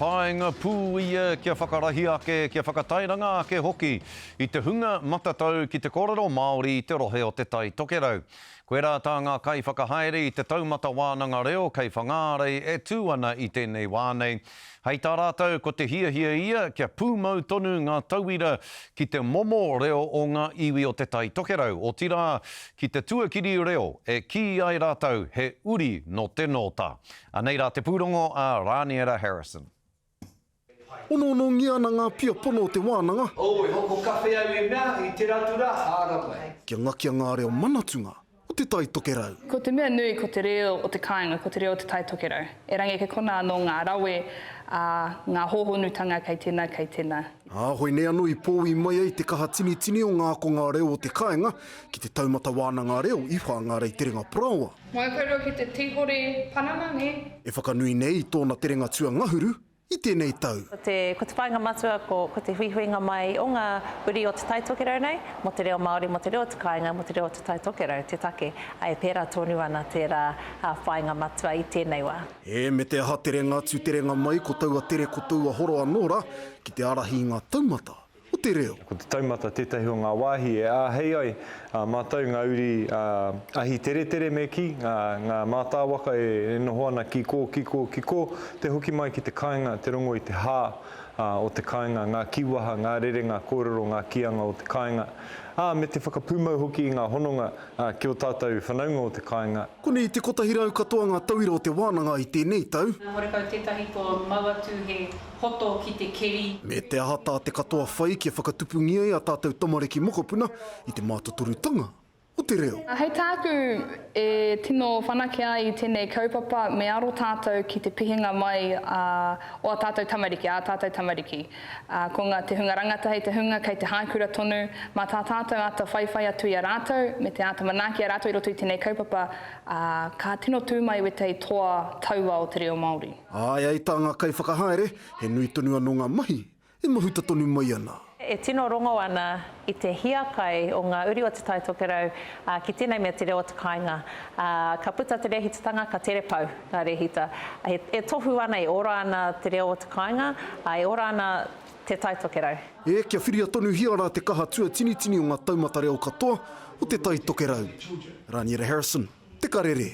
Paenga pū ia kia whakarahi ake, kia whakatairanga ake hoki i te hunga matatau ki te kōrero Māori i te rohe o Te Tai Tokerau. Koirā tā ngā kaiwhakahaere i Te Taumata Wānanga Reo kei Whangārei e tū ana i tēnei wā nei, hei tā rātou ko te hiahia ia kia pūmau tonu ngā tauira ki te momo reo o ngā iwi o Te Tai Tokerau, otirā ki te tuakiri reo e kī ai rātou he uri nō te nōta. Anei rā te pūrongo a Rāniera Harrison. Onoonongia ana ngā pia pono o te wānanga. Ō, e hoko kawhe ai e mea i te ratu rā, hāramai. Kia ngakia ngā reo manatunga o Te Tai Tokerau. Ko te mea nui ko te reo o te kāinga ko te reo o Te Tai Tokerau. Erangi kei konā anō ngā rawe ā ngā hōhonutanga kei tēnā, kei tēnā. Ā, hoi nei anō i pōui mai ai te kaha tinitini o ngā akonga reo o te kāinga ki te taumata wānanga reo i Whāngārei Te Renga Parāoa. Ngau koutou ki te tīhore panana nē? E whakanui nei i tōna terenga tuangahuru i tēnei tau. Ko te, ko te whāinga matua, ko, ko te huihuinga mai o ngā uri o Te Tai Tokerau nei, mō te reo Māori, mō te reo o te kāinga, mō te reo o Te Tai Tokerau, te take, ā, e pērā tonu ana tērā whāinga matua i tēnei wā. E, me te aha terenga atu terenga mai ko taua tere ko taua horo anō rā, ki te ārahi i ngā taumata, o te reo. Ko te taumata tētahi o ngā wāhi e āhei ai ā mātou ngā uri ahi teretere me kī, ngā mātāwaka e noho ana ki kō, ki kō, ki kō, te hoki mai ki te kāinga, te rongo i te hā o te kāinga, ngā kīwaha, ngā rerenga kōrero, ngā kīanga o te kāinga, ā, me te whakapūmau hoki i ngā hononga ki ō tātou whanaunga o te kāinga. Konei te kotahi rau katoa ngā tauira o te wānanga i tēnei tau. Nā Horekau tētahi kua mau atu he hoto ki te keri. Me te aha tā te katoa whai kia whakatupungia e a tātou tamariki mokopuna i te mātotorutanga o te reo. Hei tāku e tino whanake ai i tēnei kaupapa me aro tātou ki te pihinga mai o a tātou tamariki, ā tātou tamariki. Ko ngā te hunga rangatahi te hunga kei te haikura tonu, mā tā tātou āta whaiwhai atu i a rātou me te āta manaaki a rātou i roto i tēnei kaupapa, ka tino tū mai wētahi toa taua o te reo Māori. Āe ai tā ngā kaiwhakahaere, he nui tonu anō ngā mahi e mahuta tonu mai ana. E tino rongo ana i te hiakai o ngā uri o Te Tai Tokerau ki tēnei mea te reo o te kāinga. Ka puta te rēhitatanga, ka tere pau ngā rēhita. E tohu ana, e ora ana te reo o te kāinga, e ora ana Te Tai Tokerau. Ē, kia whiria tonuhia rā te kaha tuatinitini o ngā taumata reo katoa o Te Tai Tokerau. Raniera Harrison, Te Karere.